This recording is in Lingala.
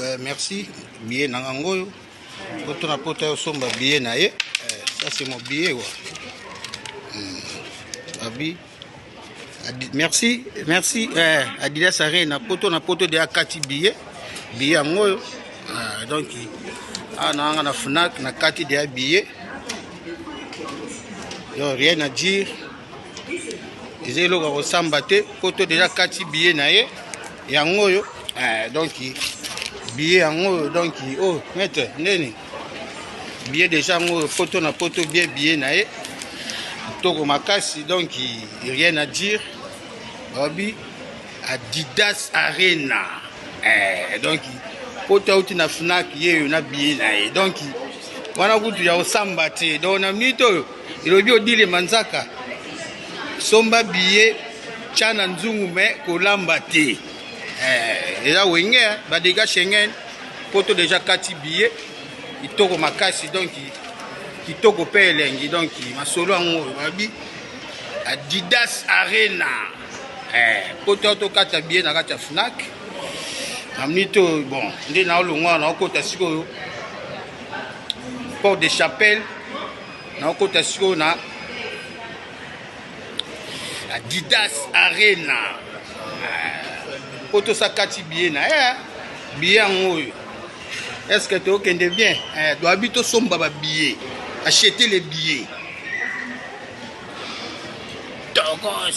Euh, merci billet na nga ngoyo poto na poto ayosomba billet na ye euh, ça c'est mon billet wa hmm. abi merci merci eh, adidas arena poto na poto de akati billet billet yango oyo ah, donc awa ah, naanga na fnac na kati deya billet donc rien à dire eza eloko ya kosamba te poto deja kati billet na ye yango oyo eh, donc billet yango oyo donc oyo oh, maître ndeni billet déjà yango oyo poto na poto bie billet na ye toko makasi donc rien à dire babi adidas arena eh, donc poto auti na fnac ye oyo na billet na ye donc wana kutu ya kosamba te donc na minute oyo elobi odile manzaka somba billet tya na nzungu me kolamba te eh, eza wenge badega schengen poto deja kati biye kitoko makasi donc kitoko mpe elengi donc masolo yango oyo babi adidas arena eh, poto tokata biye na kati ya fnac na minute oyo bon nde naolongwa naokota sikoyo port de chapelle naokota sikoyo na Adidas Arena. Poto sa kati billet na eh billet yango oyo. Est-ce que tu okende bien? Eh doit bito somba ba billets. Acheter les billets. Togos.